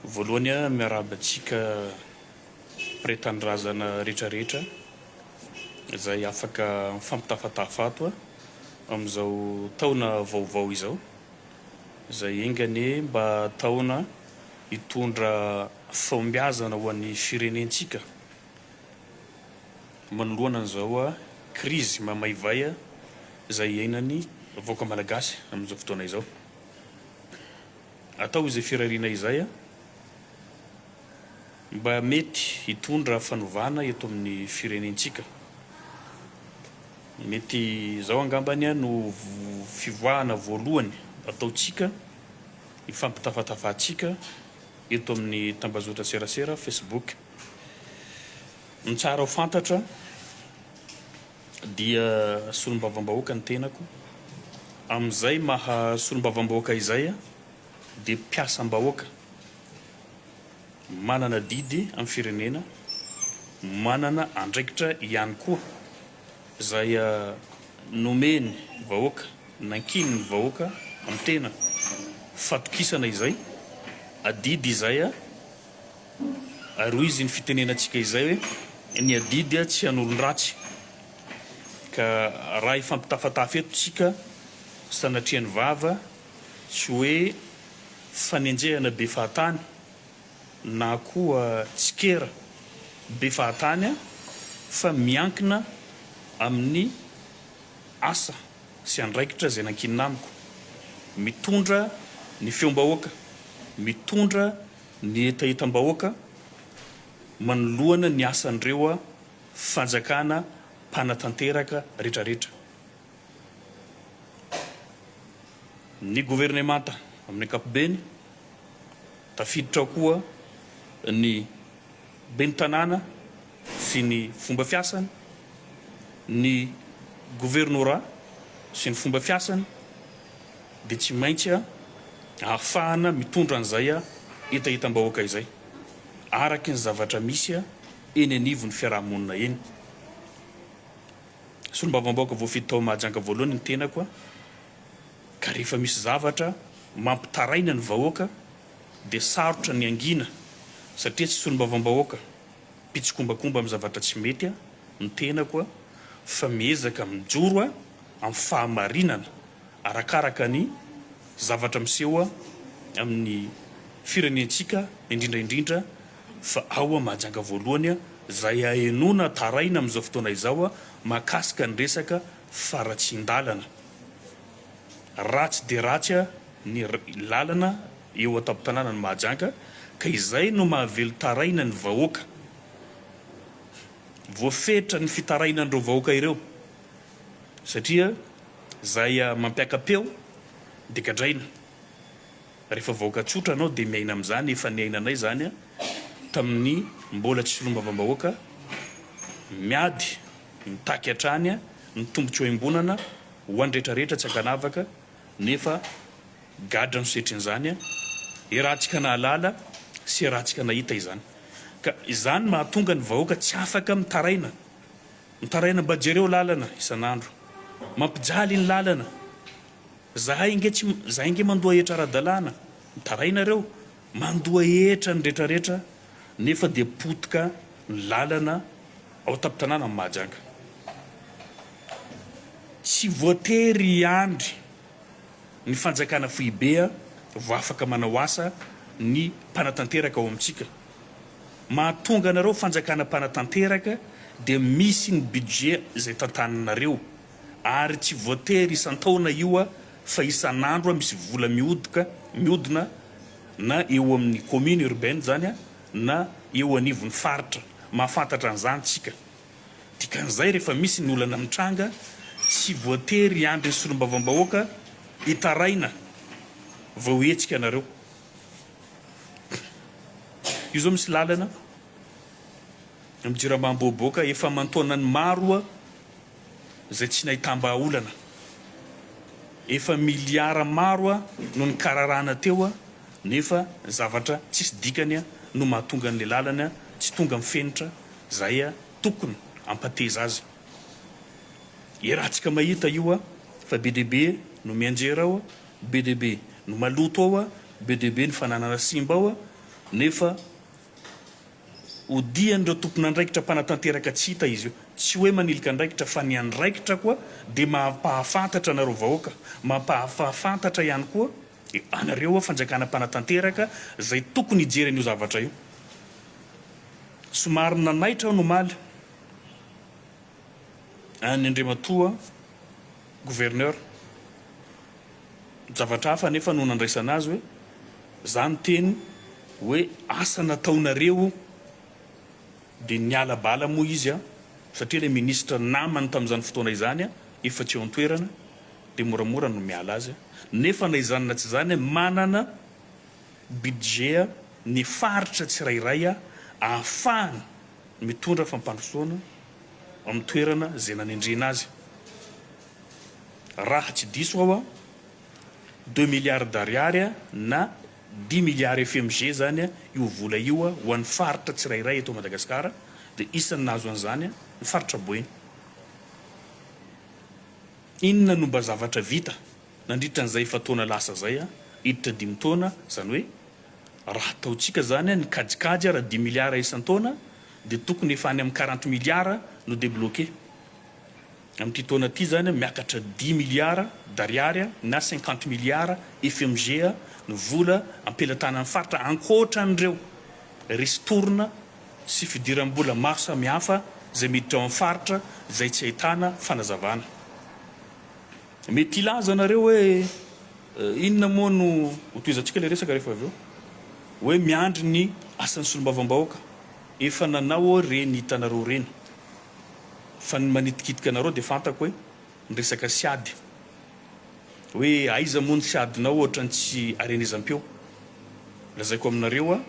Voalohany a miarahaba antsika mpre tanindrazana rehetra rehetra izay afaka mifampitafatafa ato a amin'izao taona vaovao izao izay enga anie mba taona hitondra fahombiazana ho an'ny firenentsika. Manoloana an'izao krizy mamaivay izay iainan'ny vahoaka malagasy amin'izao fotoana izao, atao izay firariana izay mba mety hitondra fanovana eto amin'ny firenentsika. Mety izao angambany no fivoahana voalohany ataontsika, ifampitafatafahantsika eto amin'ny tambazotran-tserasera Facebook. Ny tsara ho fantatra dia solombavambahoaka ny tenako, amin'izay maha solombavambahoaka izay aho dia mpiasam-bahoaka manana didy amin'ny firenena, manana andraikitra ihany koa izay nomen'ny vahoaka, nankinin'ny vahoaka amin'ny tena, fatokisana izay, adidy izay aho. Ary hoy izy ny fitenenantsika izay hoe ny adidy tsy an'olon-dratsy. Ka raha hifampitafatafy eto tsika sanatria ny vava tsy hoe fanenjehana be fahatany na koa tsikera be fahatany an fa miankina amin'ny asa sy andraikitra izay nankinina amiko. Mitondra ny feom-bahoaka, mitondra Ny hetahetam-bahoaka manoloana ny asan'ireo fanjakana mpanatanteraka retraretra. Ny governemanta amin'ny ankapobeny, tafiditra ao koa ny ben'ny tanàna sy ny fomba fiasany, ny governorat sy ny fomba fiasany, dia tsy maintsy ahafahana mitondra an'izay hetahetam-bahoaka izay araky ny zavatra misy eny anivon'ny fiaraha-monina eny. Solombavambahoaka voafidy tao Mahajanga voalohany ny tenako ka rehefa misy zavatra mampitaraina ny vahoaka dia sarotra ny hangina satria tsy solombavambahoaka mpitsikombakomba amin'ny zavatra tsy mety ny tenako fa miezaka mijoro amin'ny fahamarinana arakaraka ny zavatra miseho amin'ny firenentsika indrindra indrindra fa ao Mahajanga voalohany izay ahenoana taraina amin'izao fotoana izao mahakasika ny resaka faratsian-dalana. Ratsy dia ratsy ny lalana eo an-tampon-tanànan'i Mahajanga ka izay no mahavelon-taraina ny vahoaka. Voafetra ny fitarainan'ireo vahoaka ireo. Satria zay mampiaka-peo de gadraina. Refa vahoaka tsotra anao de miaina amzany efa niainanay zany taminy mbola tsy solombavambahoaka miady mitaky hatrany ny tombotsoa iombonana ho any rehetra rehetra tsy ankanavaka nefa gadra no setrinzany iarahantsika nahalala sy iarahantsika nahita izany ka izany mahatonga ny vahoaka tsy afaka mitaraina Mitaraina mba jereo lalana isan'andro mampijaly ny lalana zahay nge tsy zahay nge mandoa hetra ara-dalàna mitaraina reo mandoa hetra ny retraretra nefa dia potika ny lalana ao an-tampon-tanàna ny Mahajanga tsy voatery hiandry ny fanjakana foibe vao afaka manao asa ny mpanatanteraka ao amintsika. Mahatonga anareo fanjakana mpanatanteraka dia misy ny budget izay tantananareo ary tsy voatery isan-taona io a fa isan'andro a misy vola mihodoka, mihodina na eo amin'ny commune urbaine zany a na eo anivon'ny faritra. Mahafantatra an'izany tsika. Dikan'izay rehefa misy ny olana mitranga tsy voatery hiandry ny solombavambahoaka hitaraina vao hihetsika nareo. Io zao misy lalana am jirama amboaboaka efa amantaonany maroa zay tsy nahitambahaolana efa miliara maroa no nikararahana teoa nefa zavatra tsisy dikany a no mahatonga anle lalana tsy tonga am fenitra zay a tokon ampateza azy erantsika mahita io a fa be dia be no mianjera ao Be dia be ny maloto ao a, be dia be ny fananana simba ao a, nefa odian'ireo tompon'andraikitra mpanatanteraka tsy hita izy io. Tsy hoe manilika andraikitra fa ny andraikitra koa dia mampahafantatra anareo vahoaka, mampahafafantatra ihany koa anareo a fanjakana mpanatanteraka izay tokony hijery an'io zavatra io. Somary nanaitra aho nomaly an'i Andriamatoa. Gouverneur. Zavatra hafa anefa no nandraisana azy hoe, za niteny hoe asa nataonareo dia niala bala moa izy an, satria ilay ministra namany tamin'izany fotoana izany an efa tsy eo an-toerana dia moramora no miala azy an, nefa na izany na tsy izany an manana budget ny faritra tsirairay an ahafahany mitondra fampandrosoana. amin'ny toerana izay nanendrena azy. Raha tsy diso aho an, deux milliards d'ariary na dix milliards FMG izany io vola io ho an'ny faritra tsirairay eto Madagasikara, dia isan'ny nahazo an'izany ny faritra Boeny. Inona no mba zavatra vita nandritra an'izay efa-taona lasa izay an, hiditra dimy taona, izany hoe raha ataontsika izany ny kajikajy ara-dimy milliards isan-taona dia tokony efa any amin'ny quarante milliards no debloquer amin'ity taona ity izany, miakatra dix milliards d'ariary na cinquante milliards FMG ny vola am-pelatanan'ny faritra ankoatra an'ireo ristourne sy fidiram-bola maro samihafa izay miditra ao amin'ny faritra izay tsy ahitana fanazavana. Mety hilaza nareo hoe inona moa no ho tohizantsika ilay resaka rehefa avy eo? Hoe miandry ny asan'ny solombavambahoaka. Efa nanao aho ireny hitanareo ireny. Fa ny manitikitika anareo dia fantako hoe ny resaka siady. Hoe aiza moa ny siadinao ohatran'ny tsy arenezam-peo. Lazaiko aminareo a,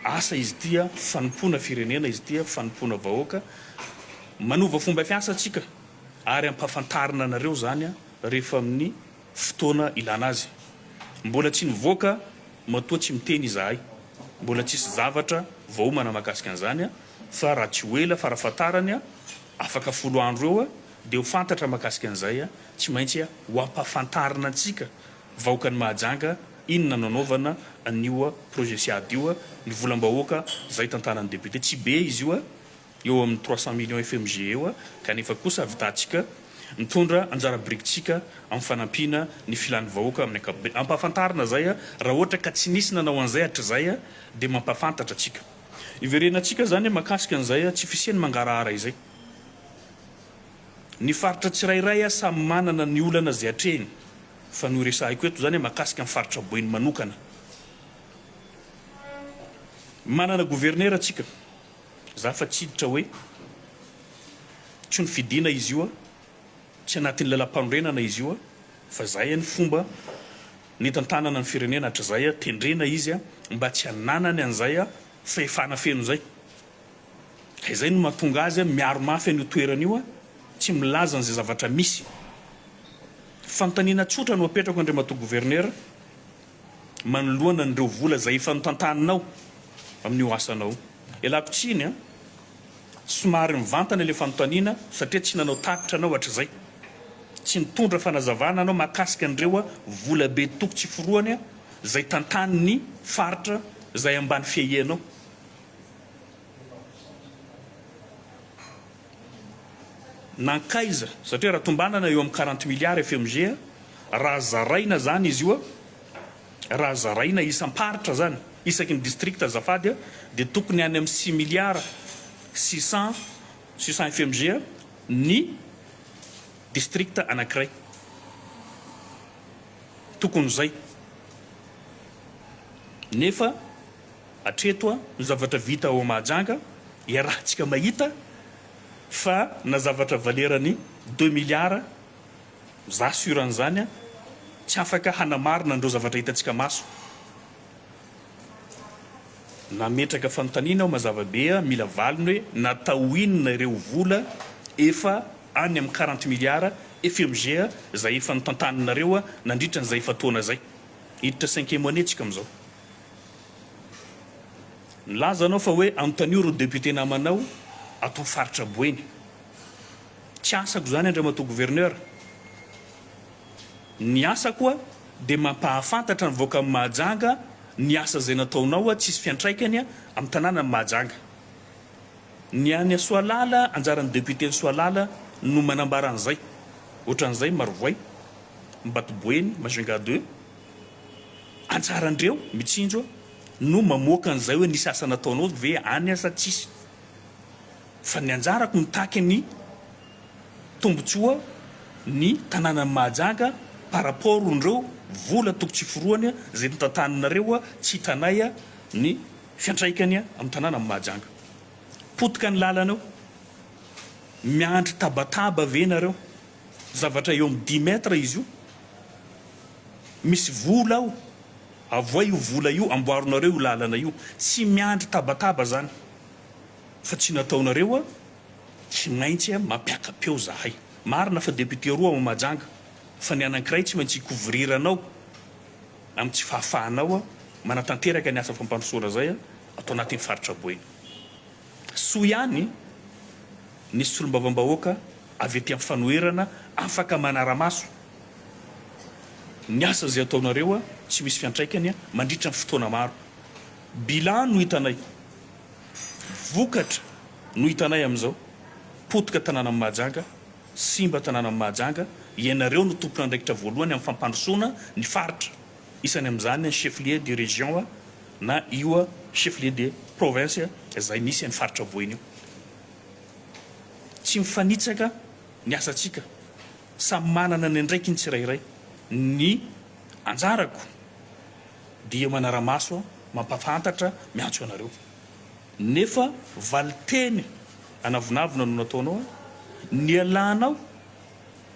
asa izy ity a, fanompoana firenena izy ity a, fanompoana vahoaka. Manova fomba fiasa tsika. ary ampahafantarina anareo izany rehefa amin'ny fotoana ilana azy. Mbola tsy nivoaka matoa tsy miteny izahay. Mbola tsisy zavatra voaomana mahakasika an'izany fa raha tsy ho ela farafahatarany afaka folo andro eo dia ho fantatra mahakasika an'izay. Tsy maintsy ho ampahafantarina antsika vahoakan'i Mahajanga inona no anaovana an'io projet Siad io. Ny volam-bahoaka izay tantanan'ny député tsy be izy io. eo amin'ny trois cent millions FMG eo kanefa kosa avitantsika mitondra anjara birikitsika amin'ny fanampiana ny filan'ny vahoaka amin'ny ankapobeny. Ampahafantarina izay raha ohatra ka tsy nisy nanao an'izay hatrizay dia mampahafantatra antsika. Iverenantsika izany mahakasika an'izay tsy fisian'ny mangarahara izay. Ny faritra tsirairay samy manana ny olana izay atrehiny fa ny horesahiko eto izany mahakasika ny faritra Boeny manokana. Manana governera tsika. Za fa tsy hiditra hoe tsy nofidina izy io a, tsy anatin'ny lalam-panorenana izy io a, fa zay any fomba nitantanana ny firenena hatrizay a, tendrena izy a, mba tsy hananany an'izay a, fahefana feno izay. Ka izay no mahatonga azy a, miaro mafy an'io toerana io a, tsy milaza an'izay zavatra misy. Fanontaniana tsotra no apetrako Andriamatoa Gouverneur, manoloana an'ireo vola izay efa notantaninao amin'io asanao io. Ialako tsiny an! Somary mivantana ilay fanontaniana satria tsy nanao tatitra anao hatrizay. Tsy nitondra fanazavana anao mahakasika an'ireo vola be toko tsy forohany izay tantanin'ny faritra izay ambany fiahianao. Nankaiza? Satria raha tombanana eo amin'ny quarante milliards FMG, raha zaraina zany izy io, raha zaraina isam-paritra zany, isaky ny district azafady, dia tokony any amin'ny six milliards six cent, six cent FMG ny district anankiray. Tokony izay. Nefa Hatreto ny zavatra vita ao Mahajanga, iarahantsika mahita fa na zavatra valeran'ny deux milliards, za sur an'izany, tsy afaka hanamarina an'ireo zavatra hitantsika maso. Nametraka fanontaniana aho mazava be, mila valiny hoe natao inona ireo vola efa any amin'ny quarante milliards FMG izay efa notantaninareo nandritra an'izay efa-taona izay. Hiditra cinquième année tsika amin'izao. Nilaza anao fa hoe anontanio ry député namanao ato faritra Boeny. Tsy asako izany Andriamatoa Gouverneur. Ny asako a dia mampahafantatra ny vahoakan'i Mahajanga ny asa izay nataonao a tsisy fiantraikany a amin'ny tanànan'i Mahajanga. Ny any Soalala anjaran'ny député-n'i Soalala no manambara an'izay. Ohatran'izay Marovoay, Mbatoboeny, Majunga deux. Anjaran-dreo mitsinjo no mamoaka an'izay hoe nisy asa nataonao ve any aza tsisy. Fa ny anjarako mitaky ny tombotsoa ny tananan'i Mahajanga par rapport n'reo vola toko tsy forohany zay notantaninareo tsy hitanay ny fiantraikany amin'ny tananan'i Mahajanga. Potika ny lalana eo. Miandry tabataba ve nareo. Zavatra eo amin'ny dix mètres izy io, misy vola ao, avoay io vola io, amboarinareo io lalana io, tsy miandry tabataba zany fa tsy nataonareo a, tsy maintsy a mampiaka-peo zahay, marina fa député roa ao Mahajanga fa ny anankiray tsy maintsy hi-couvrir anao amin'ny tsy fahafahanao a manatanteraka ny asa fampandrosoana zay a ato anatin'ny faritra Boeny. Soa ihany ny solombavambahoaka avy ety amin'ny fanoherana afaka manara-maso ny asa izay ataonareo tsy misy fiantraikany mandritra ny fotoana maro. Bilan no hitanay, vokatra no hitanay amin'izao, potika tanànan'i Mahajanga, simba tanànan'i Mahajanga, ianareo no tompon'andraikitra voalohany amin'ny fampandrosoana ny faritra. Isany amin'izany ny chef-lieu de région na io chef-lieu de province izay misy an'io faritra voina io. Tsy mifanitsaka ny asantsika, samy manana ny andraikiny tsirairay. Ny anjarako dia manara-maso, mampafantatra, miantso anareo. Nefa valin-teny anavonavona no nataonao, nialanao.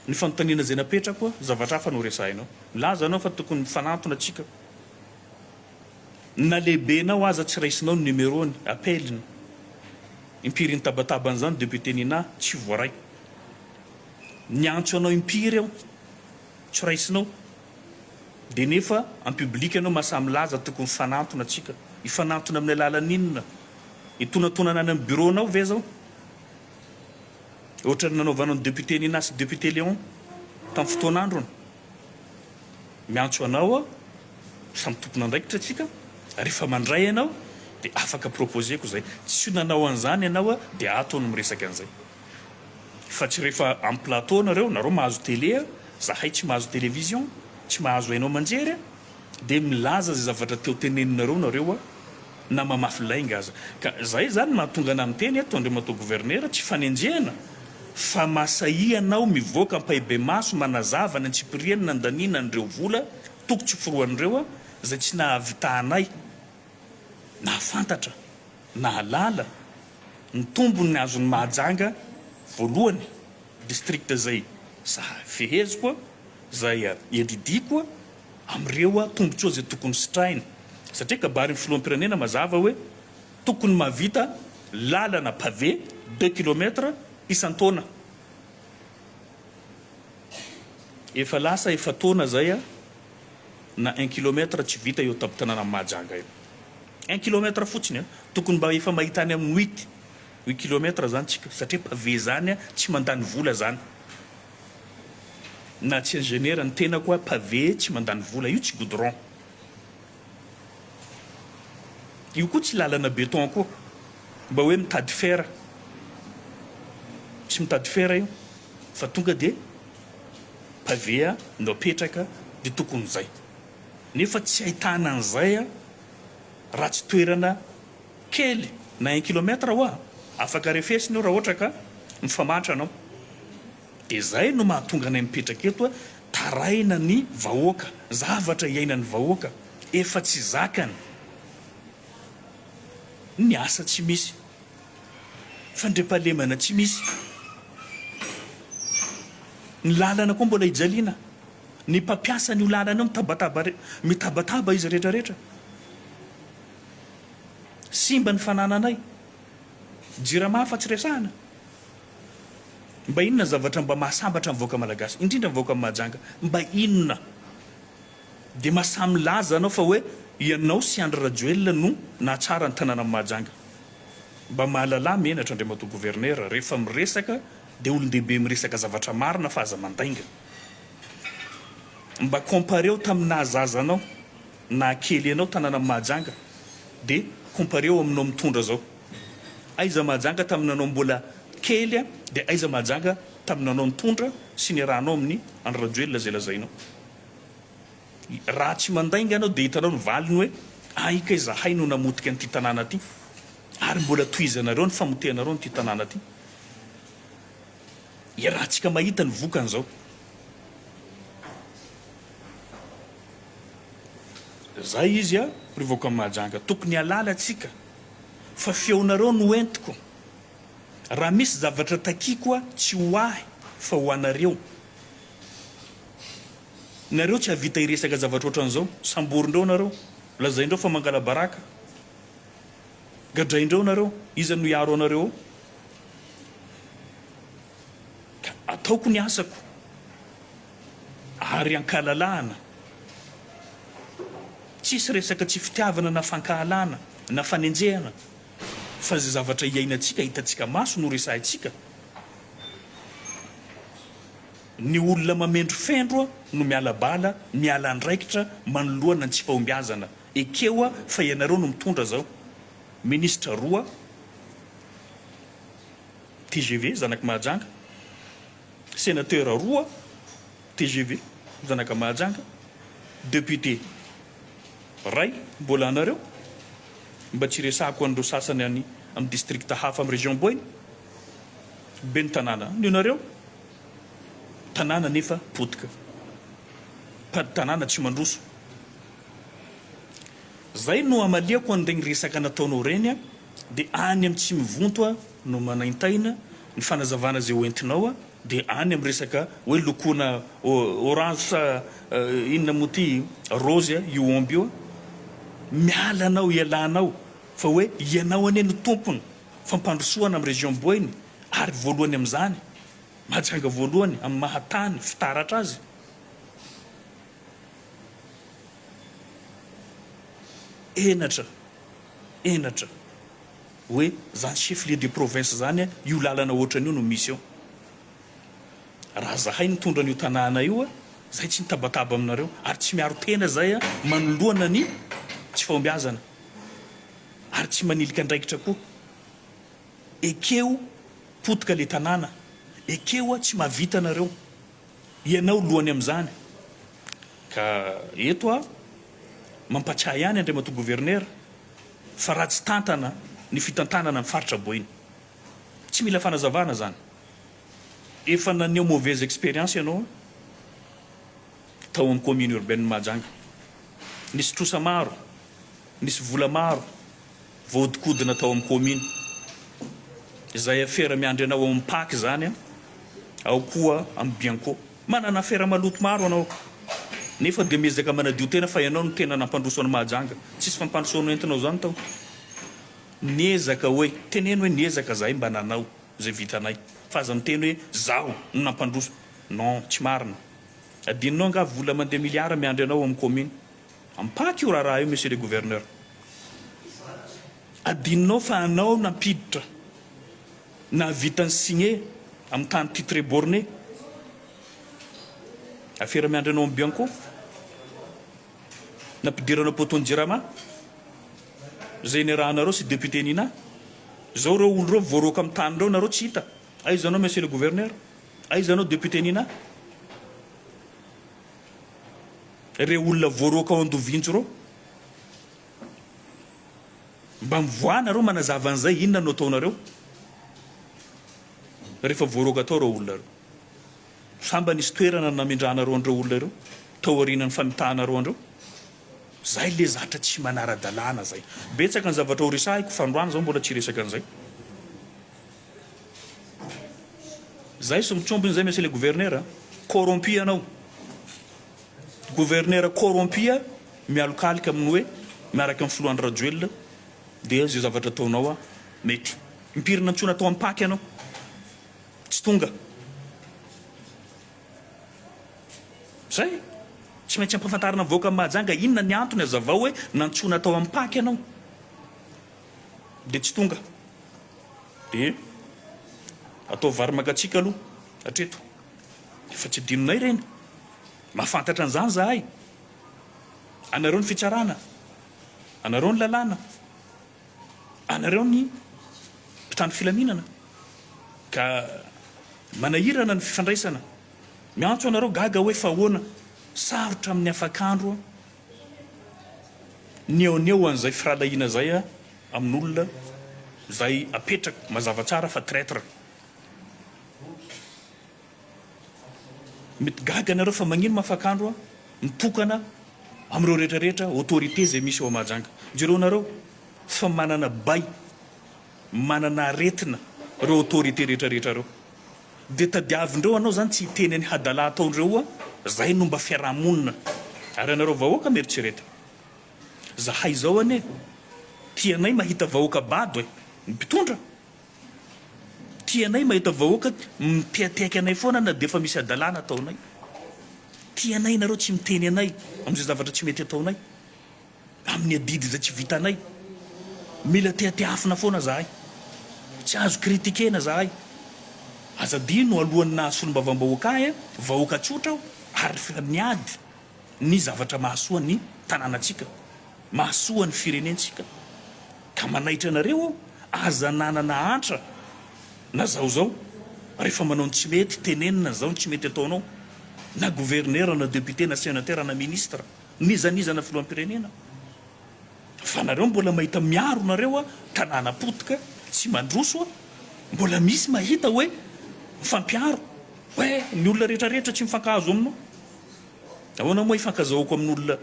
Ny fanontaniana izay napetrako, zavatra hafa no resahinao. Milaza ianao fa tokony mifanantona tsika. Na lehibenao aza tsy raisinao ny numerony, appel-ny. Impiry nitabataba an'izany Député Nina, tsy voaray. Niantso anao impiry aho, tsy raisinao. Dia nefa en public ianao mahasahy milaza tokony mifanantona tsika. Hifanantona amin'ny alalan'inona? Hitonantonana any amin'ny bureau-nao ve izao? Ohatran'ny nanaovanao ny député Nina sy député Léon tamin'ny fotoan'androny. Miantso anao aho, samy tompon'andraikitra tsika, rehefa mandray ianao dia afaka proposer-ko izay. Tsy nanao an'izany ianao dia ato no miresaka an'izay. Fa tsy rehefa amin'ny plateau nareo, nareo mahazo télé, zahay tsy mahazo télévision, tsy mahazo haino aman-jery dia milaza izay zavatra te ho teneninareo nareo. na mamafy lainga aza. Ka zay zany mahatonga anah miteny eto Andriamatoa Gouverneur, tsy fanenjehana fa mahasahia anao mivoaka ampahibemaso manazava ny antsipiriany nandaniana an'ireo vola toko tsy foroan'ireo zay tsy nahavitahanay nahafantatra, nahalala, ny tombony azon'i Mahajanga voalohany district zay zahafeheziko, zay edidiako, amin'ireo tombotsoa izay tokony sitrahina satria kabarin'ny filoham-pirenena mazava hoe tokony mahavita lalana pavé deux kilomètre isan-taona. Efa lasa efa-taona izay na un kilomètre tsy vita eo an-tampon-tanànan'i Mahajanga eo. Un kilomètre fotsiny, tokony mba efa mahita any amin'ny huit kilomètre izany isika satria pavé izany tsy mandany vola izany. Na tsy ingénieur ny tenako hoa pavé tsy mandany vola io tsy goudron io koa tsy lalana béton koa mba hoe mitady fer tsy mitady fer io fa tonga dia pavé a no apetraka dia tokony zay nefa tsy ahitana an'izay a ratsy toerana Kely na un kilomètre hoa afaka refesina io raha ohatra ka mifamatra anao. Dia izay no mahatonga anay mipetraka eto a, taraina ny vahoaka, zavatra iainan'ny vahoaka, efa tsy zakany ny asa tsy misy, fandriampahalemana tsy misy, ny lalana koa mbola hijaliana, ny mpampiasa an'io lalana io mitabataba, mitabataba izy rehetra rehetra. Simba ny fanananay. Jirama afa tsy resahana. Mba inona ny zavatra mba mahasambatra ny vahoaka malagasy, indrindra ny vahoaka Mahajanga? Mba inona? Dia mahasahy milaza anao fa hoe ianao sy Andry Rajoelina no nahatsara ny tanànan'i Mahajanga. Mba mahalalà menatra Andriamatoa Gouverneur, rehefa miresaka dia olon-dehibe miresaka zavatra marina fa aza mandainga. Mba compareo tamin'ny naha zaza anao. Na kely enao tanana mahajanga de compareo aminao mitondra zao. Aiza mahajanga tamin'ny nanao mbola kely de aiza mahajanga tamin'ny nanao nitondra sy niarahanao amin'ny Andry Rajoelina izay lazainao. Raha tsy mandainga anao de hitanao ny valiny hoe ay kay zahay no namotika an'ity tanàna ty ary mbola tohizanareo ny famotehanareo an'ity tanàna ty. Iarahantsika mahita ny vokany zao. Zay izy a ry vahoakan'i Mahajanga tokony halala tsika fa feonareo no entiko raha misy zavatra takiako a tsy ho ahy fa ho anareo nareo tsy havita hiresaka zavatra otran'zao samborindreo nareo lazaindreo fa mangalabaraka gadraindreo nareo iza no hiaro anareo ao ka ataoko ny asako. ary an-kalalahana, tsisy resaka tsy fitiavana na fankahalana na fanenjehana fa izay zavatra iainantsika, hitantsika maso no resahintsika, ny olona mamendrofendro no miala bala, miala andraikitra manoloana ny tsy fahombiazana, ekeo fa ianareo no mitondra zao, ministra roa, tgv, zanaky Mahajanga. Sénateurs roa tgv zanaka Mahajanga, député ray mbola anareo, mba tsy resahako an'ireo sasany any amin'ny district hafa amin'ny région Boina, ben'ny tanàna any ianareo, tanàna nefa potika, mpady tanàna tsy mandroso. Zay no amaliako an'iregny resaka nataonao regny dia any amin'ny tsy mivonto no manaintaina Ny fanazavana izay ho entinao dia any amin'ny resaka hoe lokoina orange sa inona moa ity rose io omby io miala anao ialanao fa hoe ianao anie no tompony fampandrosoana amin'ny région boeny ary voalohany amin'izany Mahajanga voalohany amin'ny maha tany fitaratra azy. Henatra! Henatra! Hoe zany chef lieu de province zany a, io lalana ohatrany io no misy eo. Raha zahay nitondra an'io tanàna io a, zay tsy nitabataba aminareo ary tsy miaro tena zay a, manoloana ny tsy fahombiazana ary tsy manilika andraikitra koa. Ekeo potika le tanàna, ekeo a tsy mahavita nareo. Ianao lohany amin'izany. Ka eto aho mampatsiahy ihany Andriamatoa Governera fa ratsy tantana ny fitantanana ny faritra Boeny. Tsy mila fanazavana izany. Efa naneho mauvaise expérience ianao tao amin'ny Commune Urbaine Mahajanga. Nisy trosa maro, nisy vola maro voahodinkodina tao amin'ny kaomina. Izay afera miandry anao ao amin'ny pac izany, ao koa amin'ny bianco. Manana afera maloto maro anao, nefa dia miezaka manadio tena fa ianao no tena nampandroso an'i Mahajanga. Tsisy fampandrosoana entinao izany tao. Niezaka hoe, teneno hoe niezaka izahay mba nanao izay vitanay, fa aza miteny hoe izaho no nampandroso. Non, tsy marina. Adinonao angaha vola mandeha miliara miandry anao ao amin'ny kaomina. Ampaky io raharaha io Monsieur le Gouverneur. Adinonao fa anao nampiditra nahavita ny signe amin'ny tany titre borne. Afera miandry anao amin'ny bianco. Nampidiranao poteau-n'ny jirama. Izay niarahanareo sy député Nina. Izao ireo olona ireo voaroaka amin'ny tany ireo nareo tsy hita. Aiza anao Monsieur le Gouverneur? Aiza anao député Nina? reo olona voaroaka ao Andovinjo reo? Mba mivoaha nareo manazava an'izay inona no ataonareo rehefa voaroaka tao reo olona reo? Sa mba nisy toerana namindranareo an'ireo olona ireo tao aorianan'ny fanitahanareo an'ireo? Zay le zatra tsy manara-dalàna zay. Betsaka ny zavatra ho resahiko fa androany zaho mbola tsy hiresaka an'izay. Zay sy mitrombony zay monsieur le gouverneur a! Corrompu ianao! Gouverneur corrompu mialokaloka amin'ny hoe miaraka amin'ny filoha Andry Rajoelina dia zay zavatra ataonao a mety! Impiry nantsoina tao Ampaky ianao tsy tonga! Zay! Tsy maintsy ampahafantarina vahoaka Mahajanga inona ny antony azavao hoe nantsoina tao Ampaky ianao! dia tsy tonga dia ataovy vary mangatsiaka aloha hatreto efa tsy adinonay ireny mahafantatra an'izany zahay anareo ny fitsarana anareo ny lalàna anareo ny mpitandro filaminana ka manahirana ny fifandraisana miantso anareo gaga hoe fa ahoana sarotra amin'ny afakandro Nihaoneho an'izay firahalahiana izay aho amin'olona izay apetrako mazava tsara fa traitre. Mety gaga ianareo fa magnino mafakandro mitokana amin'ireo rehetra rehetra autorité izay misy ao Mahajanga. Jereonareo fa manana bay Manana aretina reo autorité rehetra rehetra reo de tadiavindreo anao zany tsy hiteny any hadala ataondreo oa zay no mba fiarahamonina ary anareo vahoaka mieritrereto zahay zao anie tianay mahita vahoaka bado e ny mpitondra tianay mahita vahoaka mitehatehaka anay foana na defa misy hadalana ataonay tianay nareo tsy miteny anay amizay zavatra tsy mety ataonay Amin'ny adidy izay tsy vitanay. Mila tehatehafina foana zahay. Tsy azo critikena zahay. Aza adino alohan'ny naha solombavambahoaka ahy an, vahoaka tsotra aho ary efa niady ny zavatra mahasoa ny tanànantsika, mahasoa ny firenentsika. Ka manaitra anareo aho, aza ananana antra na zao zao rehefa manao ny tsy mety, tenenina zao ny tsy mety ataonao na gouverneur na depute na senateur na ministre. Nizanizana filohampirenena fa nareo mbola mahita miaro nareo a tanàna potika tsy mandroso a mbola misy mahita oe mifampiaro oe ny olona rehetra rehetra tsy mifankahazo aminao ahoana moa hifankazahoako amin'olona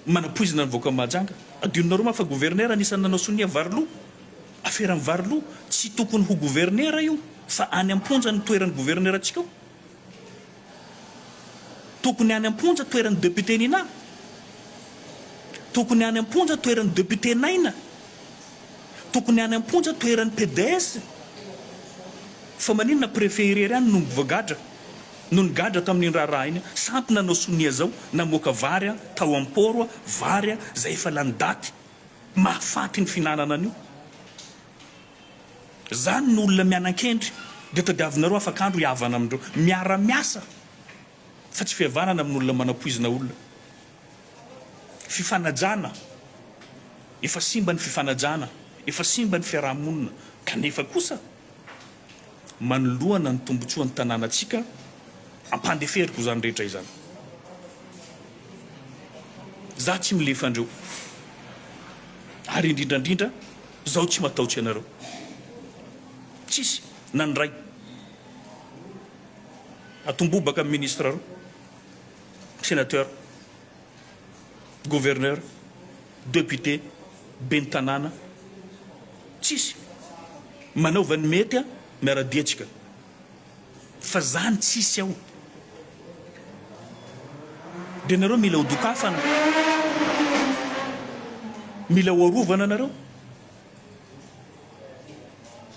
manapoizina ny vahoaka mahajanga adinonareo ma fa governera anisan'ny nanao sonia vary lo aferan'ny vary lo tsy tokony ho governera io fa any amponja ny toeran'ny governerantsika ao Tokony any amponja toeran'i député Nina Tokony any amponja toeran'i député Naina Tokony any amponja toeran'i PDS Fa maninona préfet irery ihany no mvoagadra no nigadra tamin'iny raharaha iny sampy nanao sonia zao namoaka vary a tao am port a vary a zay efa lany daty mahafaty ny finanana an'io Izany no olona mianankendry dia tadiavinareo afak'andro hihavana amin'ireo miara-miasa fa tsy fihavanana amin'olona manapoizina olona. Fifanajana, efa simba ny fifanajana, efa simba ny fiaraha-monina kanefa kosa manoloana ny tombotsoan'ny tanànantsika ampandeferiko izany rehetra izany. Izaho tsy milefa andreo ary indrindrandrindra Izaho tsy matahotra ianareo. Tsisy na ny ray atombobaka amin'ny ministra roa, senateur, gouverneur, depute, ben'ny tanàna, tsisy. Manaova ny mety miara-dietsika. fa zany tsisy ao de nareo mila ho dokafana mila ho arovana nareo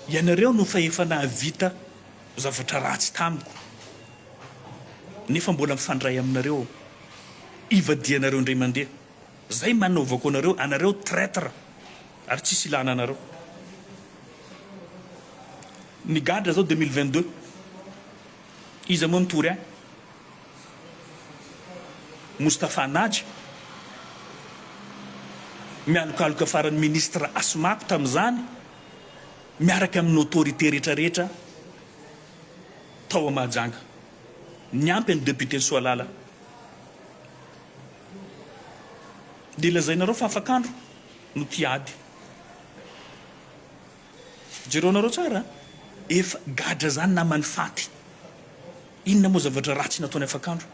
ianareo no fa efa nahavita zavatra ratsy tamiko nefa mbola mifandray aminareo ivadianareo indray mandeha Zay manaovako anareo anareo traitre ary tsisy ilana anareo migadra zao deux mille vingt deux iza moa nitory ahy Moustapha Naja mialokaloka farany ministre asmako tamizany miaraka aminy autorité rehetra rehetra tao a Mahajanga niampy an'i depute Soalala Dia lazainareo fa afak'andro no tia ady. Jereo nareo tsara a! Efa gadra zany naman'i Faty. Inona moa zavatra ratsy nataony afak'andro?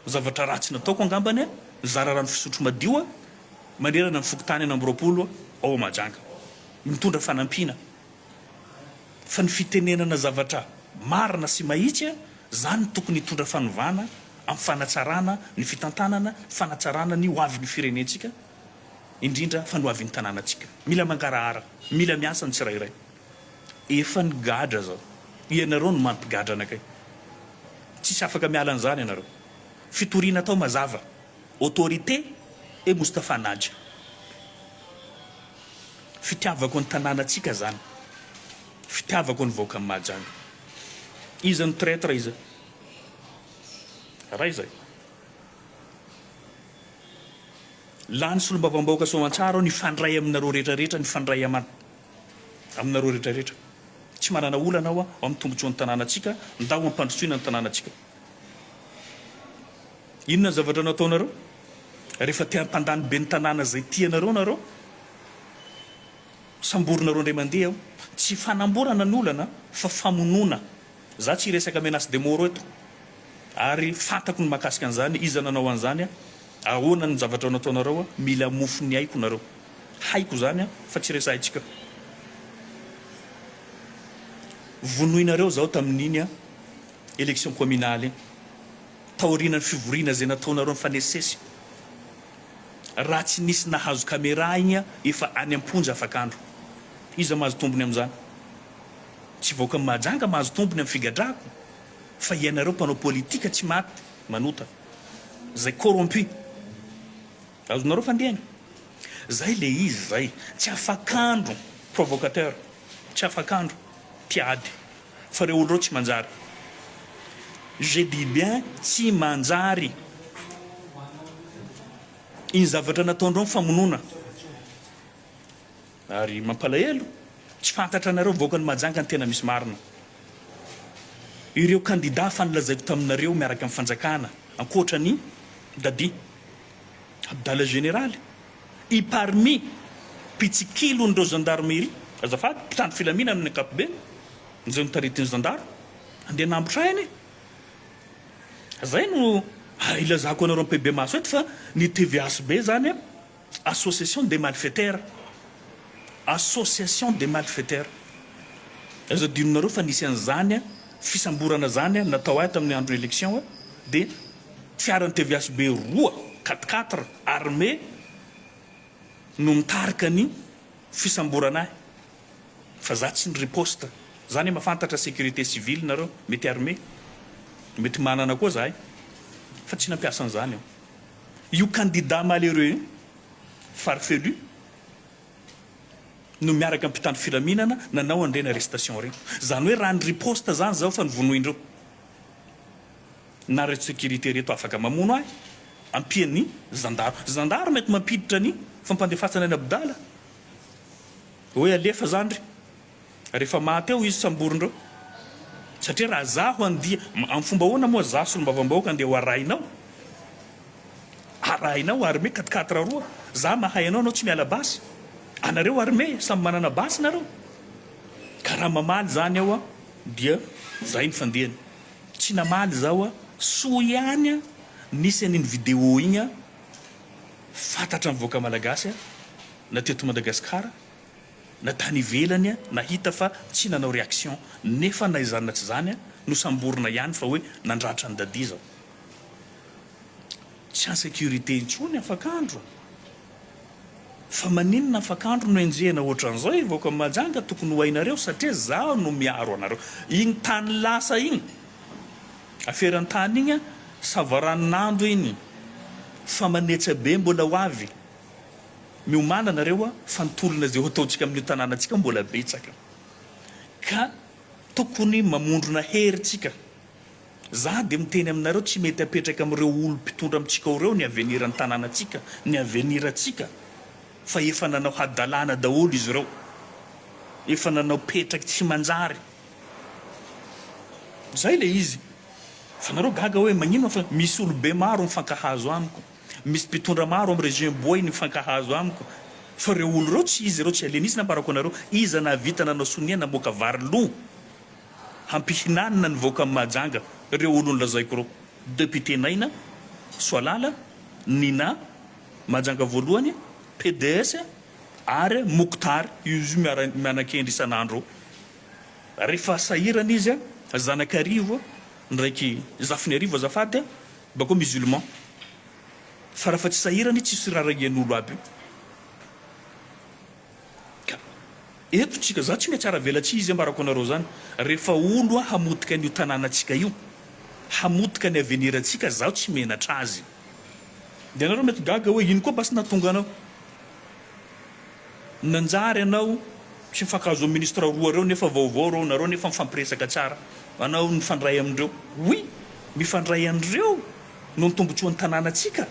Zavatra ratsy nataoko angambany a! Nizara rano fisotro madio a! Manerana ny fokontany enina amby roapolo ao Mahajanga. Nitondra fanampiana. Fa ny fitenenana zavatra marina sy mahitsy a! Zany no tokony hitondra fanovana am fanatsarana ny fitantanana, fanatsarana ny hoavy ny firenentsika, indrindra fa ny hoavy ny tananatsika. Mila mangarahara, mila miasa ny tsirairay. Efa nigadra zao, ianareo no mampigadra anakay. Tsisy afaka miala an'izany ianareo. Fitoriana atao mazava, autorité et Moustapha Naja. Fitiavako ny tananatsika zany. Fitiavako an'i vahoaka an'i Mahajanga. Iza no traitre iza? Raha izay. Lany solombavambahoaka soamantsara aho nifandray aminareo rehetra rehetra nifandray aman aminareo rehetra rehetra. Tsy manana olana aho ao amin'ny tombotsoan'ny tanànantsika ndao hampandrosoina ny tanànantsika. Inona ny zavatra nataonareo? Rehefa te hampandany ben'ny tanàna izay tianareo nareo? Samborina roa indray mandeha aho. Tsy fanamborana ny olana fa famonoana. Za tsy hiresaka menace de mort eto. Ary fantako ny mahakasika an'izany, iza nanao an'izany a? Ahoana ny zavatra nataonareo a? Mila mofo ny aiko nareo. Haiko izany a, fa tsy resahintsika. Vonoinareo zaho tamin'iny a, election communale iny. Taorianan'ny fivoriana izay nataonareo nifanesisesy. Raha tsy nisy nahazo camera igny efa any amponja afak'andro. Iza mahazo tombony amzany? Tsy vahoaka Mahajanga mahazo tombony am figadrahako fa ianareo mpanao politika tsy maty manota zay corrompu. Azonareo fandehany? Zay le izy zay. Tsy afak'andro. Provocateur. Tsy afak'andro. Mpiady. fa ireo olona ireo tsy manjary. Je dis bien tsy manjary. Iny zavatra nataondreo ny famonoana. Ary mampalahelo, tsy fantatra anareo vahoakan'i Mahajanga ny tena misy marina. Ireo kandida fa nolazaiko taminareo miaraka amin'ny fanjakana ankoatra an'i Dadi, Abdala Generaly. I Parmi, mpitsikilon'ireo zandarmerie, azafady, mpitandro filaminana amin'ny ankapobeny, izay notaritin'ny zandary, andeha hanambotra aina e! Izay no ilazako anareo mipebemaso eto fa ny tvhb izany an, association des malfaiteurs, association des malfaiteurs. Aza adinonareo fa nisy an'izany fisamborana izany natao ahy tamin'ny andro élection dia Fiaran'ny tvsb roa quatre quatre armé no nitarika ny fisamborana ahy fa za tsy niriposte. Za anie mafantatra sécurité civile nareo mety armé mety manana koa zahay fa tsy nampiasa an'zany aho. Io candidat malheureux io farfelu no miaraka am mpitandro filaminana nanao an'ireny arrestation reny. Zany hoe raha niriposte zany zaho fa novonoindreo. Nareo securite ireto afaka mamono ahy ampian'ny zandaro. Zandaro mety mampiditra ny fampandefasana any Abdala hoe alefa zany re rehefa maty eo izy samborindreo satria raha za ho andia am fomba ahoana moa za solombavambahoaka andeha ho arahinao arahinao armée quatre quatre roa za mahay anao anao tsy miala basy anareo armée samy manana basy nareo ka raha mamaly zany eo dia zay ny fandehany. Tsy namaly izaho a! Soa ihany a! Nisy an'iny vidéo iny a! Fantatra ny vahoaka malagasy a! Na teto Madagasikara na tany ivelany a! Nahita fa tsy nanao réaction! Nefa na izany na tsy izany a! Nosamborina ihany fa hoe nandratra an'i Daddy izaho! Tsy en sécurité intsony afak'andro! Fa maninona afaka andro no enjehina ohatran'izao e vahoaka Mahajanga tokony ho hainareo satria zaho no miaro anareo iny tany lasa iny aferantany iny a savaranonando iny fa manetsa be mbola ho avy miomana nareo a fa ny tolona zay hoataontsika amin'io tananantsika io mbola betsaka ka tokony mamondrona hery tsika. Za de miteny aminareo tsy mety apetraka amin'ireo olom pitondra amintsika ao ireo ny avenir ny tananantsika, ny avenir antsika fa efa nanao hadalana daholo izy ireo, efa nanao petraky tsy manjary. Zay le izy fa nareo gaga hoe maninona fa misy olobe maro mifankahazo amiko, misy mpitondra maro am regime boay nifankahazo amiko fa ireo olo ireo tsy izy ireo tsy alienisina par rapport anareo, iza nahavita nanao sonia namoaka vary lo? Hampihinanina ny vahoaka ny Mahajanga reo olony lazaiko reo. Depute Naina, Soalala, Nina, Mahajanga voalohany, PDS, ary Mokhtar io io miara mianakendry isan'andro eo. Refa sahirana izy a, zanak'arivo a, ndraiky zafin'arivo azafady a, bakeo musulman. Fa rafa tsy sahirana izy tsisy rarahian'olo aby io. Ka eto tsika za tsy maintsy aravela tsy izy ambarako anareo zany refa olo a hamotika an'io tananatsika io hamotika ny avenir antsika zaho tsy menatra azy de anareo mety gaga hoe ino koa basy natonga anao nanjary anao tsy mifankahazo am ministra roa reo nefa vaovao reo nareo nefa mifampiresaka tsara anao mifandray amindreo oui mifandray anreo no ny tombotsoan'ny tananatsika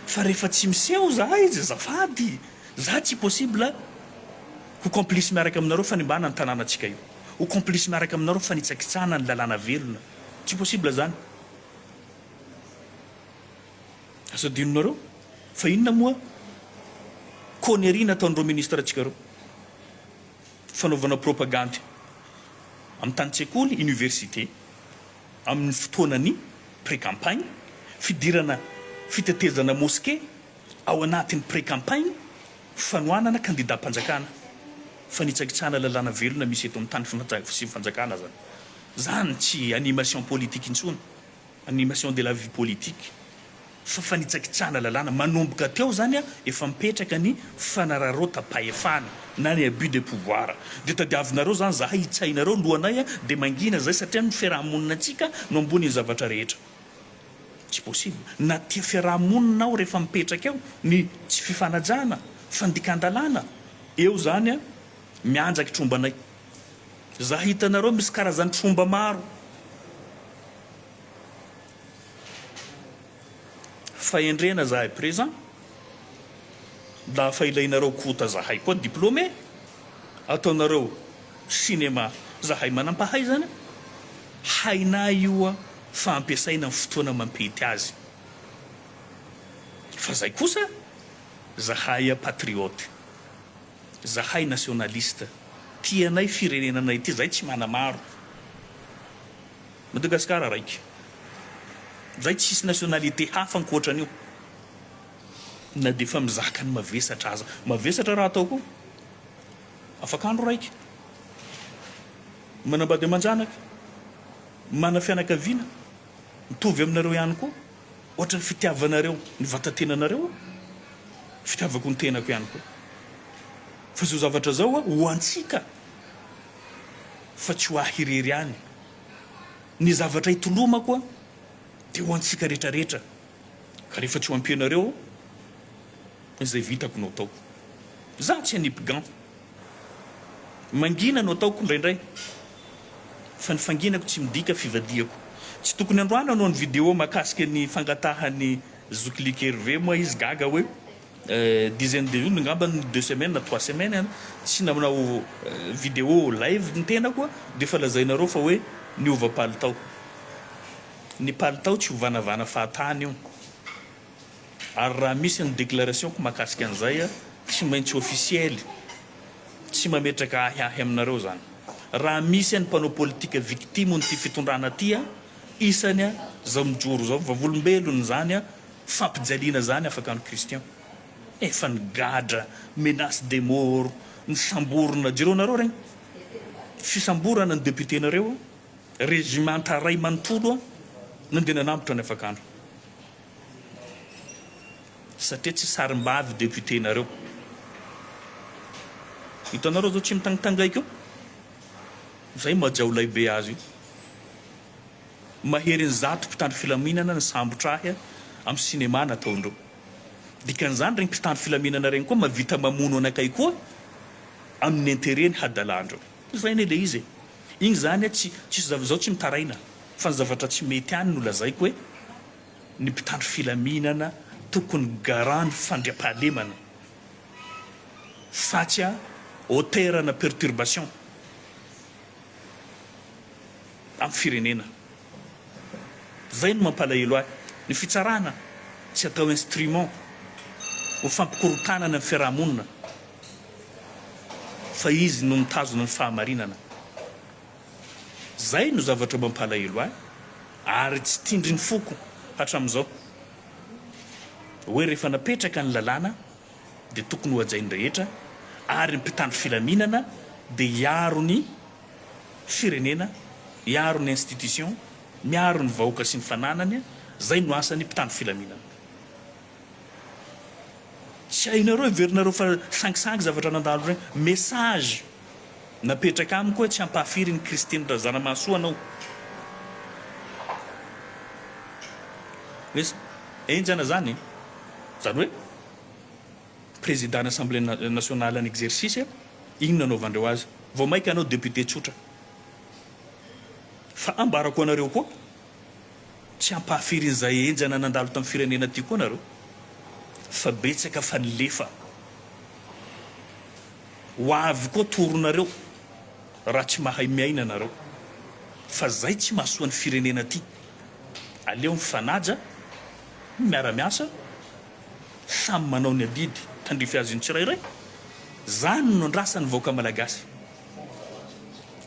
fa refa tsy miseho za izy zafady Za tsy possible ho complice miaraka aminareo fanimbana ny tananantsika io, ho complice miaraka aminareo fanitsakitsahana ny lalàna velona, tsy possible zany. Aza adinonareo fa inona moa connerie nataon'ireo ministre ntsika reo? Fanaovana propagandy amin'ny tanin-tsekoly, université, amin'ny fotoanan'ny pré-campagne, fidirana fitetezana mosquée, ao anatin'ny pre-campagne fanohanana kandidam-panjakana, fanitsakitsahana lalàna velona misy eto amin'ny tany sy fanjakana zany. Zany tsy animation politique intsony, animation de la vie politique, fa fanitsakitsahana lalàna. Manomboka teo zany efa mipetraka ny fanararaotam-pahefana na ny abus de pouvoir. De tadiavinareo zany zahay hitsahinareo lohanay de mangina zay satria ny fiaraha-monina antsika no ambonin'ny zavatra rehetra. Tsy possible. Na tia fiaraha-monina aho rehefa mipetraka eo ny tsy fifanajana, fandikan-dalàna, eo zany an, mianjaky trombanay. Za hitanareo misy karazan'ny tromba maro. Fahendrena zahay présent. La fa ilainareo kota zahay koa diplômé. Ataonareo cinéma zahay manam-pahaizana. Hainay io an. fa ampiasaina amin'ny fotoana mampety azy fa zay kosa zahay patriote zahay nationaliste tia anay firenena anay ity zay tsy manamaro Madagascar raika zay tsisy nationalite hafa ankoatran'io na dia efa mizaka ny mavesatra aza mavesatra raha atao koa afak'andro raika manambady aman-janaka Manana fianakaviana mitovy aminareo ihany koa, ohatra ny fitiavanareo ny vatan-tenanareo, fitiavako ny tenako ihany koa. Fa izao zavatra izao ho antsika fa tsy ho ahy irery ihany. Ny zavatra itolomako dia ho antsika rehetra rehetra. Ka rehefa tsy ho ampianareo aho, izay vitako no ataoko. Izaho tsy hanipgan. Mangina no ataoko indraindray, fa ny fanginako tsy midika fivadihako. Tsy tokony androana no ny video mahakasika ny fangatahan'ny zoky like Hervé moa izy gaga hoe dizaine de vues ngamba ny deux semaines na trois semaines an! Tsy nanao video live ny tenako an! Dia efa lazainareo fa hoe niova palitao. ny palitao tsy hovanavana fahatany io ary raha misy ny déclaration-ko mahakasika an'izay a, tsy maintsy officielle, tsy mametraka ahy ahy aminareo zany. Raha misy any mpanao politika victime n'ity fitondrana ty a, isany a, zao mijoro zao, vavolombelony zany a, fampijaliana zany afaka any Christian. Efa nigadra, menace de mort, nisamborina, jereo nareo regny fisamborana ny député nareo a. Regimanta iray manontolo no dia nanambotra ny afakandro. Satria tsy sarimbavy député-nareo. Hitanareo zao tsy mitangitangaika io? Izay majiaolay be azy io. Maherin'ny zato mpitandro filaminana nisambotra ahy amin'ny cinéma nataondreo. Dikan'izany ireny mpitandro filaminana ireny koa mahavita mamono anakay koa amin'ny intérêt-ny hadalandreo. Ovaina ilay izy e! Iny izany a tsy tsisy zava izaho tsy mitaraina fa ny zavatra tsy mety any no lazaiko hoe ny mpitandro filaminana tokony garant ny fandriampahalemana fa tsy a hauteur ana perturbation am firenena. Zay no mampalahelo ahy. Ny fitsarana tsy atao instrument ho fampikorotanana ny fiaraha-monina. Fa izy no mitazona ny fahamarinana. Izay no zavatra mampalahelo ahy ary tsy tindrin'ny foko hatramin'izao. Hoe rehefa napetraka ny lalàna dia tokony hohajain'ny rehetra ary ny mpitandro filaminana dia hiaro ny firenena, hiaro ny institution, miaro ny vahoaka sy ny fananany, izay no asan'ny mpitandro filaminana. Tsy hainareo heverinareo fa sangisangy zavatra nandalo regny. Message napetraka amiko hoe tsy hampahafiry an'i Christine Razanamahasoa anao. Hoe henjana zany e. Zany hoe Président an'Assemblée nationale en exercice inona anaovandreo azy. Vao maika anao député tsotra. Fa ambarako anareo koa. Tsy ampahafirin'izay henjana nandalo tamin'ny firenena ity koa nareo fa betsaka fa nilefa. Ho avy koa toronareo raha tsy mahay miaina nareo fa zay tsy mahasoa ny firenena ty. Aleo mifanaja, miara miasa, samy manao ny adidy tandrify azy ny tsirairay. Zany no andrasan'ny vahoaka malagasy.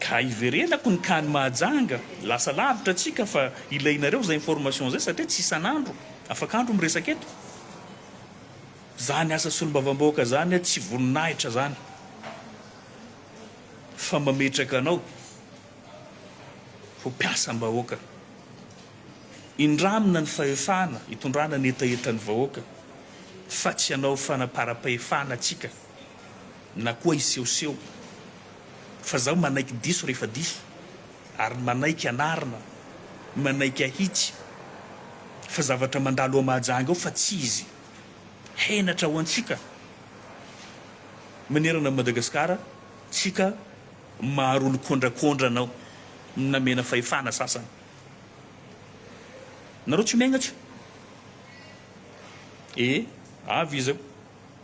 Ka iverenako ny kany Mahajanga, lasa lavitra tsika fa ilainareo zay information zay satria tsy isan'andro, afak'andro miresaka eto. Zany asa solombavambahoaka zany tsy voninahitra zany fa mametraka anao ho mpiasambahoaka. Indramina ny fahefana itondrana ny hetahetan'ny vahoaka fa tsy hanao fanaparam-pahefana tsika. na koa hisehoseho fa zaho manaiky diso rehefa diso ary manaiky hanarina, manaiky hahitsy fa zavatra mandalo ao Mahajanga ao fa tsy izy. Henatra ho antsika manerana an'i Madagasikara tsika maharolo kondrakondra anao namena fahefana sasany. Nareo tsy miaina tsy? Ee avy iza?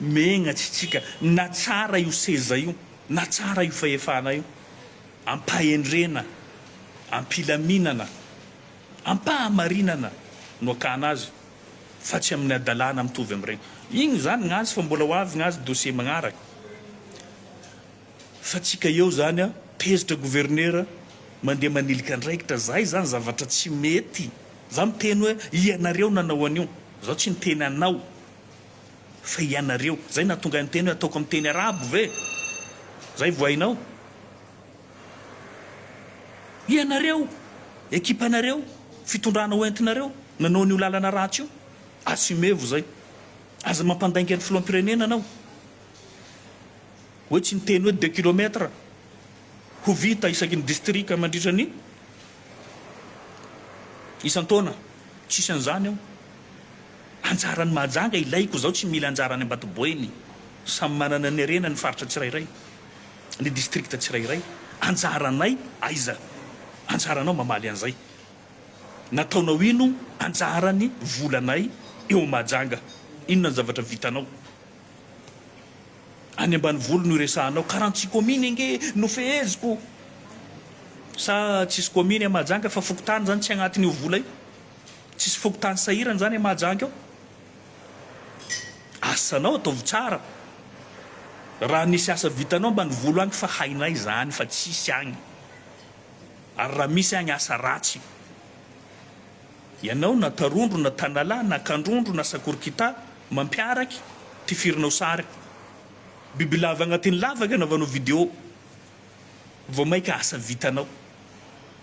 Megna tsy tsika na tsara io seza io na tsara io fahefana io ampahendrena ampilaminana ampahamarinana no akana azy fa tsy aminy adalana mitovy amreny igny zany gnazy fa mbola ho avy gnazy dossier magnaraka fa tsika eo zany a tezitra gouverneur mandeha manilika andraikitra zay zany zavatra tsy mety za miteny hoe ianareo nanao anio zaho tsy niteny anao Fa ianareo, zay nahatonga niteny hoe ataoko amin'ny teny arabo ve? Zay vao hainao? Ianareo, ekipanareo, fitondrana ho entinareo, nanao an'io lalana ratsy io. Assumer-vo zay. Aza mampandainga ny filoham-pirenena anao. Hoe tsy niteny hoe deux kilomètre ho vita isaky ny distrika mandritra ny isan-taona. Tsisy an'izany ao. Anjaran'i Mahajanga ilaiko izao tsy mila anjara any Ambatoboeny, samy manana ny harena ny faritra tsirairay, ny distrikta tsirairay. Anjaranay aiza? Anjaranao mamaly an'izay. Nataonao ino anjaran'ny volanay eo Mahajanga? Inona ny zavatra vitanao? Any ambanivolo no iresahanao, karantsy kominy ange no feheziko. Sa tsisy kominy any Mahajanga fa fokontany izany tsy agnatiny io vola io? Tsisy fokontany sahirana zany a Mahajanga eo? Asanao ataovy tsara raha misy asa vitanao ambanivolo any fa hainay zany fa tsisy agny ary raha misy agny asa ratsy ianao na tarondro na tanalahy na kandrondro na sakorikita mampiaraky tifirinao sary bibilava agnatiny lavaka anaovanao video vao maika asa vitanao.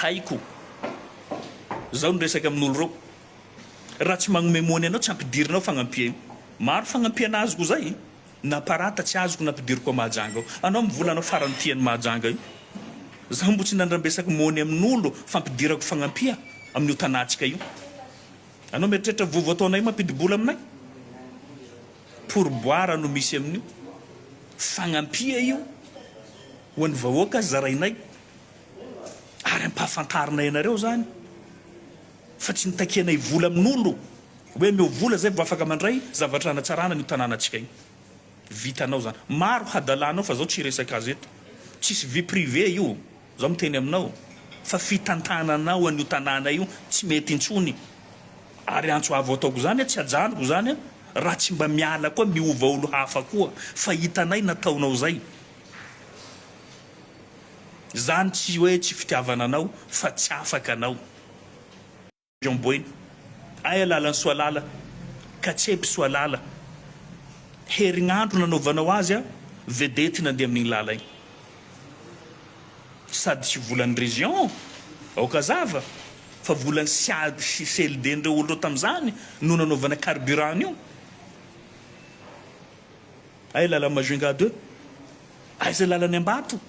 Haiko. Zao ny resaka amin'olo reo. Raha tsy magnomey mony anao tsy ampidirina ao fagnampia io. Maro fagnampiana azoko zay. Na parata tsy azoko nampidiriko ao Mahajanga ao. Anao am vola anao farany ty any Mahajanga io. Zaho mbo tsy nandrambesako mony amin'olo fampidirako fagnampia amin'io tanantsika io. Anao mieritreritra vovo ataonay mampidibola aminay? Pourboire no misy amin'io. Fagnampia io ho an'ny vahoaka zarainay ary ampahafantarinay anareo zany fa tsy nitakianay vola amin'olo hoe ameo vola zay vao afaka mandray zavatra hanatsarana an'io tanànantsika io. Vitanao zany. Maro hadalanao fa zao tsy resaka azy eto. Tsisy vie privée io. Zao miteny aminao fa fitantananao an'io tanàna io tsy mety intsony ary antso avo ataoko zany tsy ajanoko zany raha tsy mba miala koa miova olo hafa koa fa hitanay nataonao zay zany tsy hoe tsy fitiavana anao fa tsy afaka anao. Jean Boina, Ay alalan'i Soalala, Katsepy Soalala, herignandro nanaovanao azy a vedety nandeha amin'igny lala igny. Sady tsy volan'ny region, aoka zava, fa volan'ny siad sy CLD-ndreo olo reo tamizany no nanaovana carburant an'io. Ay lalan'i Majunga deux, aiza lalan'i Ambato?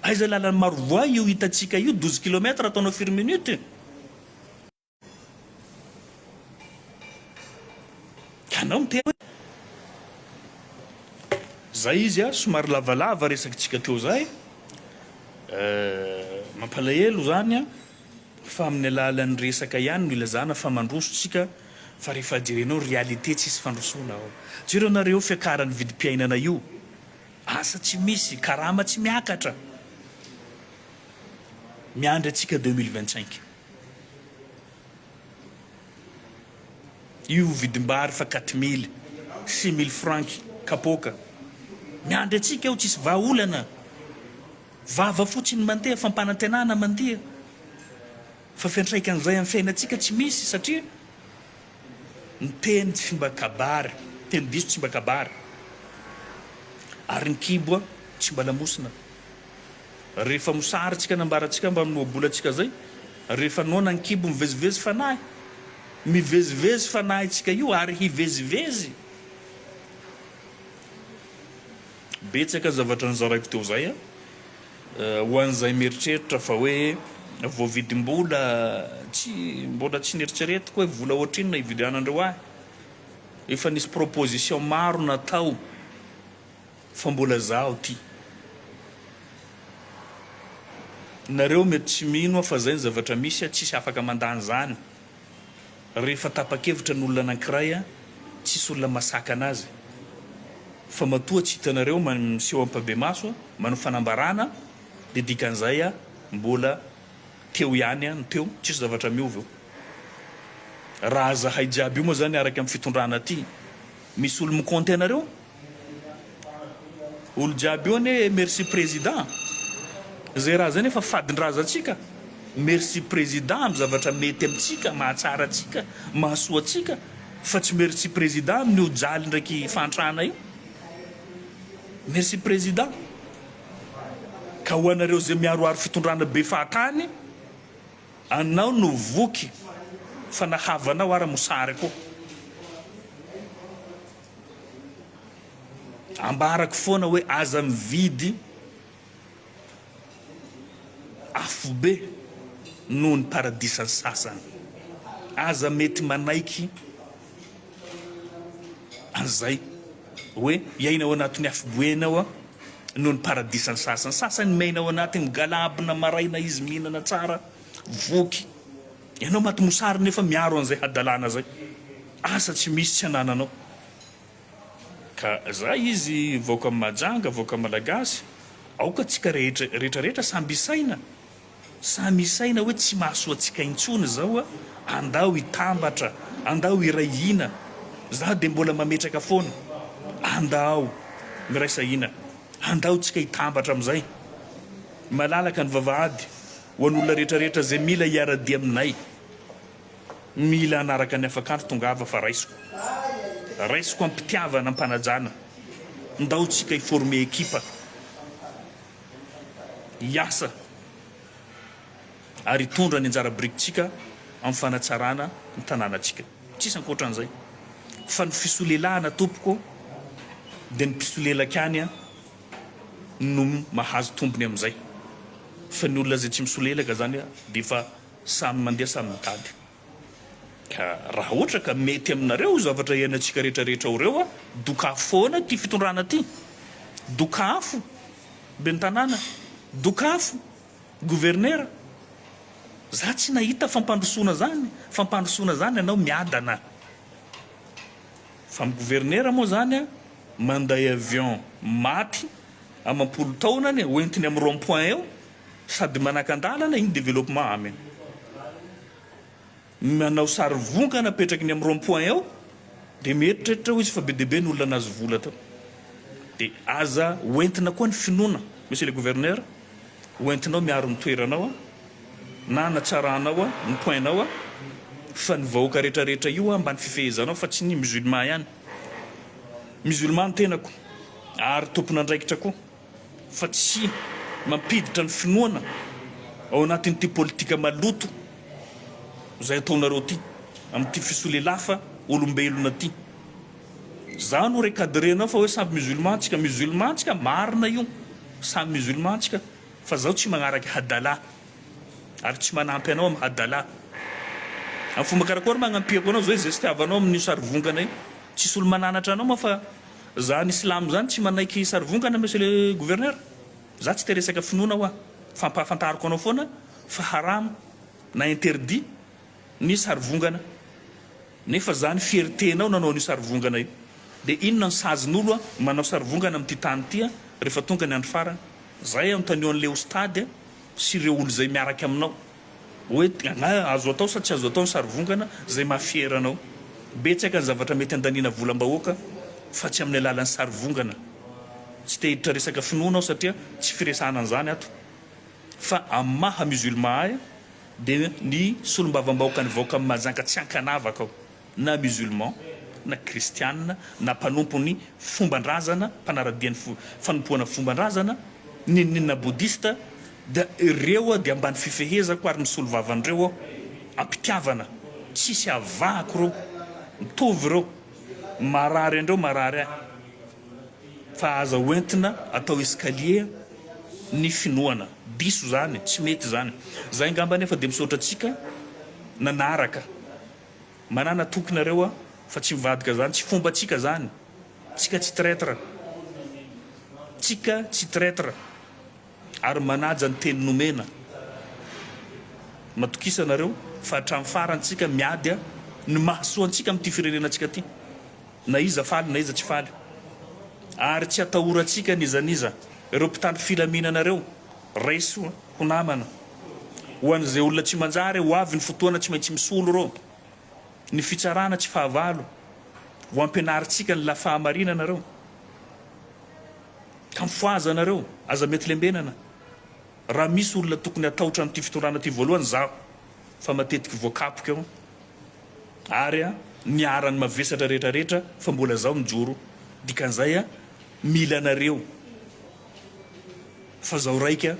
Aiza lalan'i Marovoay io hitantsika io douze kilomètre ataonao firy minute? Ianao miteny hoe zay izy a, somary lavalava resakintsika teo zay, mampalahelo zany a, fa amin'ny alalan'ny resaka ihany no ilazana fa mandroso tsika fa rehefa jerenao réalité tsisy fandrosoana ao. Jereo nareo fiakaran'ny vidim-piainana io Asa tsy misy, karama tsy miakatra. Miandry antsika deux mille vingt cinq. Io vidim-bary fa quatre mille, six mille francs kapoaka. Miandry antsika io tsisy vahaolana. Vava fotsiny mandeha, fampanantenana mandia. Fa fiantraikan'izay amin'ny fiainantsika tsy misy satria. ny teny tsy mba kabary, teny diso tsy mba kabary, ary ny kibo tsy mba lamosina. Rehefa mosary tsika nambara tsika mba amin'ny ohabola tsika zay, rehefa noana ny kibo mivezivezy fanahy, mivezivezy fanahy tsika io ary hivezivezy. Betsaka zavatra nozaraiko teo izay a! ho an'izay mieritreritra fa hoe voavidim-bola, tsy, mbola tsy neritreretiko hoe vola ohatrinona hividianandreo ahy, efa nisy proposition maro natao fa mbola zaho ty. Nareo mety tsy mino aho fa zay ny zavatra misy a, tsisy afaka mandany zany. Rehefa tapa-kevitra ny olona anankiray an, tsisy olona masakana azy fa matoa tsy hitanareo miseho ampabemaso an, manao fanambarana dia dikan'izay an mbola teo ihany an ny teo, tsisy zavatra miova eo. Raha zahay jiaby io moa zany araka ny fitondrana aty, misy olo-mikaonty anareo? Olo jiaby eo anie merci président zay raha zay nefa fadin-drazantsika merci président amin'ny zavatra mety amintsika mahatsara antsika mahasoa antsika fa tsy merci président amin'io jaly ndraiky fahantrana io merci président ka ho anareo zay miaroaro fitondrana be fahatany anao no voky fa nahavanao ara mosary koa Ambarako foana hoe aza mividy afobe noho ny paradisan'ny sasany. Aza mety manaiky an'izay hoe hiaina ao anatin'ny afobe ianao noho ny paradisan'ny sasany. Sasany miaina ao anaty migalabona maraina izy mihinana tsara, voky, Ianao maty mosary nefa miaro an'izay hadalana zay. Asa tsy misy tsy anananao. Ka zay izy vahoaka majanga vahoaka malagasy aoka tsika rehetra rehetra rehetra samby isaina samy isaina hoe tsy mahasoa tsika intsony zao a andao hitambatra andao hiray hina za de mbola mametraka foana andao miraisa hina andao tsika hitambatra amizay malalaka ny vavahady Ho an'olona rehetra rehetra izay mila hiara-dia aminay, mila hanaraka ny afakandro tongava fa raisiko, raisiko am-pitiavana, am-panajana, ndao tsika hi-former ekipa, hiasa ary hitondra ny anjara birikitsika amin'ny fanatsarana ny tanànatsika. Tsisy ankoatran'izay fa ny fisolelahana tompoko dia ny mpisolelaka ihany an! no mahazo tombony amin'izay fa ny olona izay tsy misolelaka izany dia efa samy mandeha samy mitady ka raha ohatra ka mety aminareo io zavatra iainantsika rehetra rehetra ao ireo dokafo foana ity fitondrana ity dokafo ben'ny tanàna dokafo governera za tsy nahita fampandrosoana zany fampandrosoana zany anao miadana Fa ny governera moa zany a manday avion maty amam-polo taona any ho entiny am rond point eo sady manakan-dalana iny developpement amin ny manao sary vongana apetraky ny am rond point eo de mieritreritra ho izy fa be dia be ny olona nahazo vola tao de aza ho entina koa ny finoana monsieur le gouverneur Ho entinao miaro ny toeranao na hanatsaranao ny point nao fa ny vahoaka rehetra rehetra io mba ny fifehezanao fa tsy ny musulman ihany. Musulman ny tenako ary tompon'andraikitra koa fa tsy mampiditra ny finoana ao anatin'ity politika maloto izay ataonareo ity amin'ity fisolelafa olombelona ity. Za no recadrer anao fa hoe samy musulman tsika, musulman tsika marina io, samy musulman tsika fa zaho tsy magnaraka hadalah ary tsy manampy anao am hadalah, am fomba karakory magnampiako anao zao izestiavanao amin'io sarivongana io, tsisy olo mananatra anao moa fa za ny silamo zany tsy manaiky sarivongana monsieur le gouverneur, za tsy te resaka finoana hoa, fampahafantariko anao foana fa haram na interdit, ny sarivongana nefa zany fierté nao nanao an'io sarivongana io de inona ny sazy n'olo a manao sarivongana amin'ity tany ity a refa tonga ny andro farany zay anontanio an'le ostady a sy ireo olo zay miaraka aminao oe nga azo atao sa tsy azo atao ny sarivongana zay maha fier anao betsaka ny zavatra mety andaniana volam-bahoaka fa tsy amin'ny alalan'ny sarivongana tsy te hiditra resaka finoana aho satria tsy firesahana an'zany ato fa amin'ny maha musulman ahy Dia ny solombavambahoaka nivoaka amin'i Mahajanga tsy ankanavaka ao, na musulman, na kristianina, na mpanompon'ny fomban-drazana, mpanara-dia ny fanompoana fomban-drazana, n'inon'inona bodista, dia ireo aho dia ambany fifehezako ary misolo vava an'ireo aho, am-pitiavana, tsisy avahako ireo, mitovy ireo, marary andreo marary ahy. Fa aza hoentina atao escalier ny finoana. Diso zany, tsy mety zany. Zay ngamba anefa dia misaotra antsika nanaraka. Manana toky nareo a, fa tsy mivadika zany, tsy fombantsika zany. Tsika tsy traitre. Tsika tsy traitre ary manaja ny teny nomena. Matokisa nareo fa hatramin'ny farany tsika miady ny mahasoa antsika amin'ity firenena antsika ty. Na iza faly na iza tsy faly. Ary tsy atahorantsika n'iza n'iza. Ireo mpitandro filaminana ireo, raiso ho namana. Ho an'izay olona tsy manjary, ho avy ny fotoana tsy maintsy misolo ireo. Ny fitsarana tsy fahavalo. Ho ampianarintsika ny la fahamarinana ireo. Ka mifohaza nareo, aza mety lembenana. Raha misy olona tokony hatahotra an'ity fitondrana ity voalohany, izaho. fa matetiky voakapoka eo ary a miara ny mavesatra rehetra rehetra fa mbola zao mijoro dikan'izay a mila anareo fa zao raika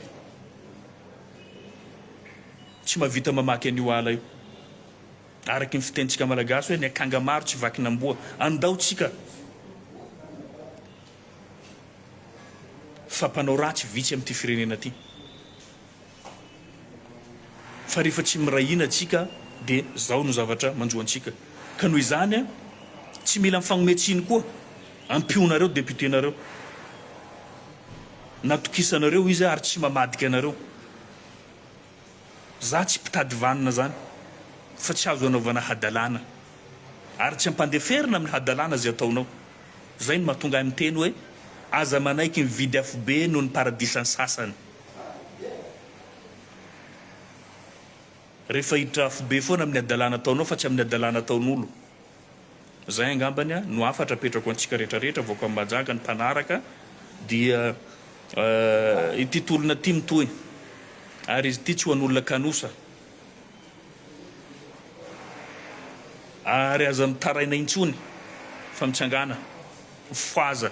tsy mavita mamaky an'io ala io araky ny fitentsika malagasy hoe ny akanga maro tsy vakin'amboa andao tsika fa mpanao ratsy vitsy amin'ity firenena ty Fa rehefa tsy miray hina tsika dia zao no zavatra manjo antsika. Ka noho izany a, tsy mila mifagnome tsiny koa. Ampionareo député nareo. Natokisanareo izy ary tsy mamadika anareo. Za tsy mpitady vanona zany fa tsy azo anaovana hadalana. Ary tsy ampandeferina amin'ny hadalana ze ataonao. Zay no mahatonga ahy miteny hoe aza manaiky mividy afobe noho ny paradisan'ny sasany. Rehefa hiditra afobe foana amin'ny hadalana ataonao fa tsy amin'ny hadalana ataon'olo. Zay angambany no hafatra apetrako antsika rehetra rehetra vahoaka amin'ny Mahajanga ny mpanaraka dia ity tolona ity mitohy ary izy ity tsy ho an'olona kanosa ary aza mitaraina intsony fa mitsangana foaza.